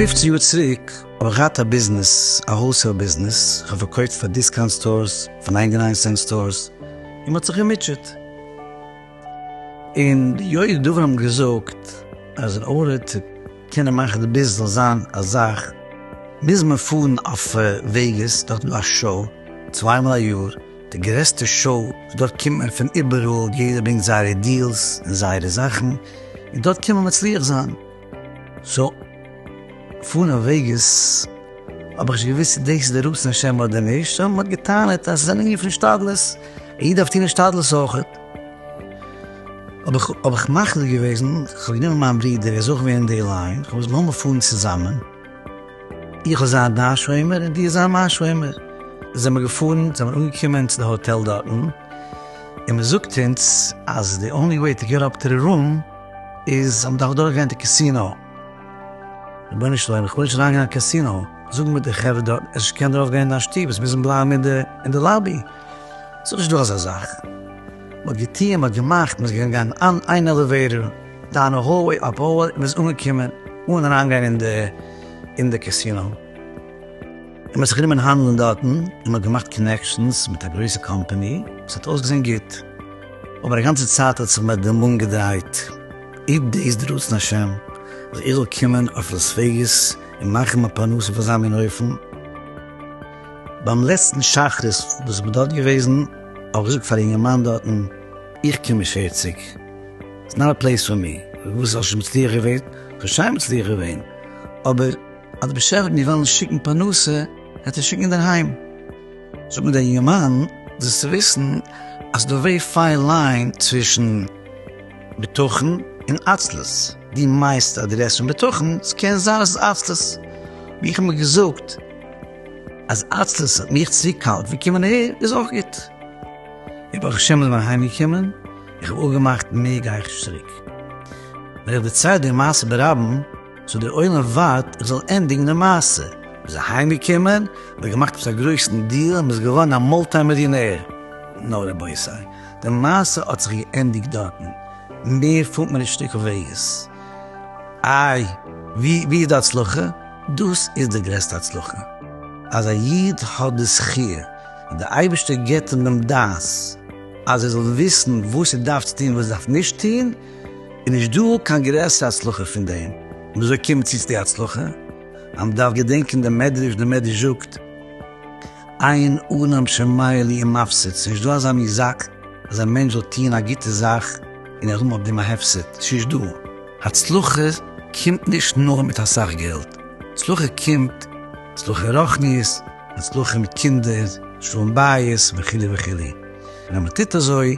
פֿופֿצן יאר צוריק האב איך געהאט א ביזנעס, א האלסעיל ביזנעס, איך האב פארקויפט פאר דיסקאונט סטארס, פאר ניינטי ניין סענט סטארס, און מען האט זיך געמוטשעט. און די יודעי דבר האבן געזאגט אז אין ארער צו קענען מאכן די ביז זאל זיין א זאך מוז מען פארן אויף וועגעס דארט איז דא א שאו צוויי מאל א יאר די גרעסטע שאו דארט קומט מען פון איבעראל יעדער ברענגט זייערע דיעלס און זייערע זאכן און דארט קען מען מצליח זיין. סא פון א וועגעס האב איך נישט געוויסט צו דאס איז די רצון השם אדער נישט, אבער מען האט געטענה'ט אז עס איז א ליניע פון השתדלות, א איד דארף טון השתדלות אויכעט, האב איך מחליט געוועזן, איך האב גענומען מיין ברודער ער איז אויך ווי אין די ליין, כ'האב געזאגט לאמיר פארן צוזאמען, איך וועל זיין דיין שומר און דו זיי מיין שומר, זעמער געפארן, זעמער אנגעקומען צו די האטעל דארטן, און מען זאגט אונז אז די אנלי וועי טו געט אפ טו די רום, איז האבן דאך דורך געווען די קעסינאו. רבונו של עולם איך וויל נישט אריין גיין אין א קעסינאו, זאג מיר די חברה דארט אז איך קען דערויף גיין אין א שטוב עס מוזן בלייבן אין די אין די לאבי, ס'איז נישט דא אזא זאך, מען האט געטוען מען האט געמאכט מען איז געגאנגען אין אן איין עלעוועיטער דאון א האלוועי אפ האלוועי מען איז אנגעקומען אן אריין גיין אין די אין די קעסינאו. מען האט זיך גענומען האנדלען דארטן און מען האט געמאכט קאנעקשאנס מיט א גרויסע קאמפעני, עס האט אויסגעזען גוט, אבער א גאנצע צייט האט זיך מיר די מאן געדרייט, איב דאס איז רצון השם, אז איך זאל קומען אויף לאס וועגאס און מאכן מיין פרנסה אויף אזא מין אופן. ביים לעצטן שחרית וואס איך בין דארט געוועזן, האב איך געזאגט פאר א יונגערמאן דארטן, איך קום נישט פערציג, איטס נאט א פלעיס פאר מי, וואס האסטו מצליח געווען? כ'האב שיין מצליח געווען, אבער. אדער בשעת מיר וועלן שיקן פרנסה וועט ער שיקן אינדערהיים. זאג מיר דער יומען זאלסט צו וויסן אז די ווערי פיין ליין צווישן בטחון און עצלות, דו מיינסט אז דו רעדסט פון בטחון, עס קען זיין עס איז עצלות, ווי איך האב מיר געזאגט אז עצלות האט מיך צו קאלט פון קומען אהער איז אויך גוט, און ברוך השם איז מען אהיים געקומען, איך האב אפגעמאכט מער גיי איך נישט צוריק, ווען איך דערצייל דער מעשה ברבים. סאו דער עולם ווארט איך זאל ענדיגן די מעשה. מ'איז אהיים געקומען, מ'האט געמאכט עפעס א גרויסן דיעל און מ'איז געווארן א מולטי מיליאנער. נא רבותי, די מעשה האט זיך געענדיגט דארטן, מער פארט מען נישט צוריק אויף וועגעס. איי ווי איז די הצלחה? דאס איז די גרעסטע הצלחה, אז א איד האט די זכי' אז די אייבערשטער גיבט אים דעם דעת אז ער זאל וויסן וואס ער דארף צו טון און וואס ער דארף נישט טון, איז נישט דא קיין גרעסערע הצלחה פון דעם, און אזוי קומט מען צו צו די הצלחה, אז מען דארף געדענקען דעם מדרש, דער מדרש זאגט, אין אדם שומר לי עם מפסיד, ס'איז נישט דא אזא מין זאך אז א מענטש זאל טוען א גוטע זאך און ער האבן אויף דעם א הפסד, ס'איז נישט דא, הצלחה קומט נישט נאר מיט אסאך געלט, הצלחה קומט הצלחה רוחנית, הצלחה מיט קינדער, שלום בית, וכו' וכו', און אז מען טוט אזוי.